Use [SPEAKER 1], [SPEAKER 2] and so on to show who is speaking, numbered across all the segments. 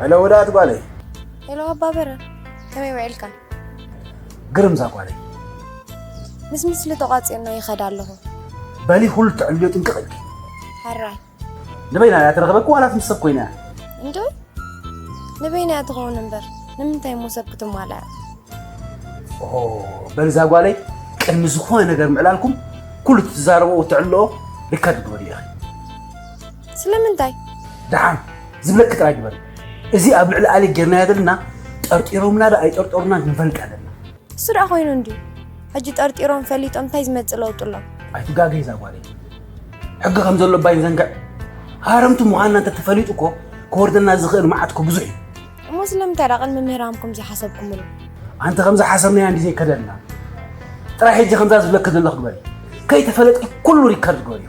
[SPEAKER 1] ሄሎ ወዳእት ጓለይ ሄሎ ኣባ
[SPEAKER 2] በረ ከመይ ውዒልካ?
[SPEAKER 1] ግርም እዛ ጓለይ
[SPEAKER 2] ምስ ምስሊ ተቋፂርና ይኸዳ ኣለኹ። በሊ ኩሉ
[SPEAKER 1] ትዕልዮ ጥንቅቕ ኢልኪ ሓራይ
[SPEAKER 2] ንበይና
[SPEAKER 1] እያ ተረኽበኩ ዋላስ ምስ ሰብ ኮይና እያ እንዶ
[SPEAKER 2] ንበይና እያ ትኸውን እምበር ንምንታይ እሞ ሰብ ክትማላ እያ ኦ
[SPEAKER 1] በልዛ ጓለይ ቅድሚ ዝኾነ ነገር ምዕላልኩም ኩሉ ትዛረቦ እትዕልኦ ሪከርድ ግበሪ ኢኺ
[SPEAKER 2] ስለምንታይ ደሓን
[SPEAKER 1] ዝብለኪ ጥራይ ግበሪ እዚ ኣብ ልዕሊ ኣሌክ ጌርናዮ ዘለና ጠርጢሮምና ዶ ኣይጠርጠሩና ክንፈልጥ ኣለና እሱ ደኣ ኮይኑ
[SPEAKER 2] እንድዩ ሕጂ ጠርጢሮም ፈሊጦም እንታይ ዝመፅእ ለውጢ ኣሎ ኣይትጋገይ እዛ
[SPEAKER 1] ጓለይ ሕጊ ከም ዘሎ ባይ ዘንግዕ ሃረምቲ ምዃንና እንተተፈሊጡ እኮ ክወርደና ዝኽእል መዓት እኮ ብዙሕ እዩ እሞ ስለምንታይ
[SPEAKER 2] ደኣ ቅድሚ ምህራምኩም ዘይሓሰብኩምሉ ኣንቲ ከምዚ
[SPEAKER 1] ሓሰብናያ እንዲ ዘይከደልና ጥራይ ሕጂ ከምዛ ዝብለኪ ዘለኹ ግበሪ ከይተፈለጥኪ ኩሉ ሪከርድ ግበሪዮ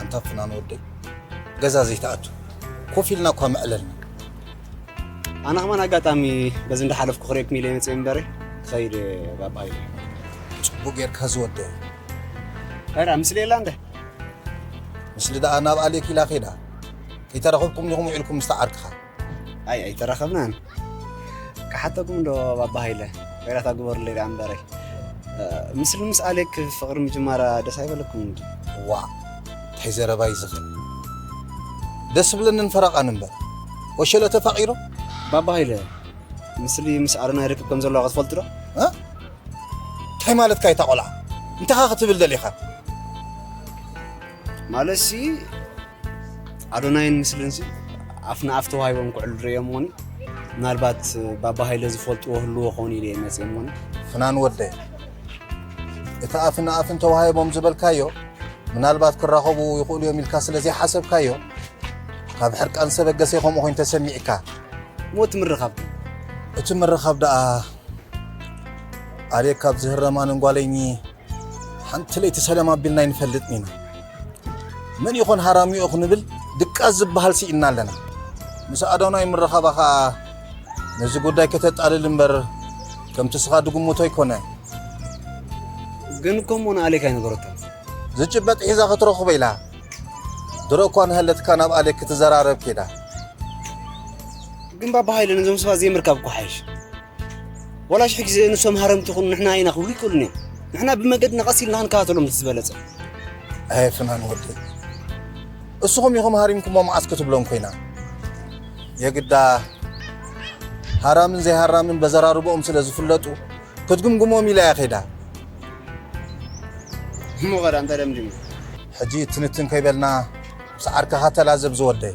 [SPEAKER 3] ኣንታ ፍናን ወደይ ገዛ ዘይትኣቱ ኮፍ ኢልና እኳ ምዕለልና
[SPEAKER 4] ኣነ ከማን ኣጋጣሚ በዚ እንዳሓለፍኩ ክሪኤኩም ኢለ መፅእ እምበረ ክኸይድ ባባ ኢለ ፅቡቅ
[SPEAKER 3] ጌርካ ዝወደ
[SPEAKER 4] ራ ምስሊ የላ እንደ
[SPEAKER 3] ምስሊ ደኣ ናብ ኣሌክ ኢላ ኬዳ ከይተረኸብኩም ዲኹም ውዒልኩም ምስታ ዓርክኻ ኣይ
[SPEAKER 4] ኣይተራኸብናን ክሓተኩም ዶ ባባ ሃይለ ወይራታ ግበሩለይ ደኣ እምበረይ ምስሊ ምስ ኣሌክ ፍቕሪ ምጅማራ ደስ ኣይበለኩም እንዲ ዋ
[SPEAKER 3] እንታይ ዘረባ እዩ ዝኽእል ደስ ብለንን ፈረቓን እምበር ወሸለ ተፋቒሮ ባባ ሃይለ
[SPEAKER 4] ምስሊ ምስ ኣረና ይርክብ ከም ዘለዋ ክትፈልጡ ዶ
[SPEAKER 3] እንታይ ማለትካ እታ ቆልዓ እንታኻ ክትብል ደሊኻ
[SPEAKER 4] ማለትሲ ኣዶናይን ምስልንሲ ኣፍ ንኣፍ ተዋሂቦም ክዕሉ ርእዮምዎኒ ምናልባት ባባ ሃይለ ዝፈልጥዎ ህልዎ ኾኑ ኢለ እየ መፅኦምዎኒ ፍናን ወደይ
[SPEAKER 3] እቲ ኣፍ ንኣፍን ተዋሂቦም ዝበልካዮ ምናልባት ክራኸቡ ይኽእሉ እዮም ኢልካ ስለ ዘይሓሰብካዮ ካብ ሕርቃን ሰበገሰ ከምኡ ኮይኑ ተሰሚዕካ እሞ እቲ
[SPEAKER 4] ምርኻብ እቲ ምርኻብ
[SPEAKER 3] ደኣ ኣልየ ካብ ዝህረማንን ጓለይኒ ሓንቲ ለይቲ ሰላም ኣቢልና ኣይንፈልጥን ኢና መን ይኾን ሃራሚኦ ክንብል ድቃስ ዝበሃል ስኢና ኣለና ምስ ኣዶናይ ምረኻባ ከዓ ነዚ ጉዳይ ከተጣልል እምበር ከምቲ ስኻ ድግምቶ ኣይኮነ ግን
[SPEAKER 4] ከምኡ ንኣሌክ ኣይነበረቶ ዝጭበጥ ሒዛ
[SPEAKER 3] ክትረኽቦ ኢላ ድሮ እኳ ንሃለትካ ናብ ኣሌክ ክትዘራረብ ኬዳ ግን
[SPEAKER 4] ባባ ሃይለ ነዞም ሰባት ዘይምርካብ እኮ ሓይሽ ዋላ ሽሕ ግዜ ንሶም ሃረምቲ ይኹኑ ንሕና ኢና ክብሉ ይክእሉን እዮም ንሕና ብመገድና ቀስ ኢልና ክንከታተሎም እቲ ዝበለጸ ኣየ
[SPEAKER 3] ፍናን ወደይ እስኹም ኢኹም ሃሪምኩሞ መዓስ ክትብሎም ኮይና የግዳ ሃራምን ዘይሃራምን በዘራርቦኦም ስለ ዝፍለጡ ክትግምግሞም ኢላ እያ ከይዳ
[SPEAKER 4] እሞ ኸዳ እንተ ደምዲሙ ሕጂ
[SPEAKER 3] ትንትን ከይበልና ምስ ዓርክኻ ተላዘብ ዝወደይ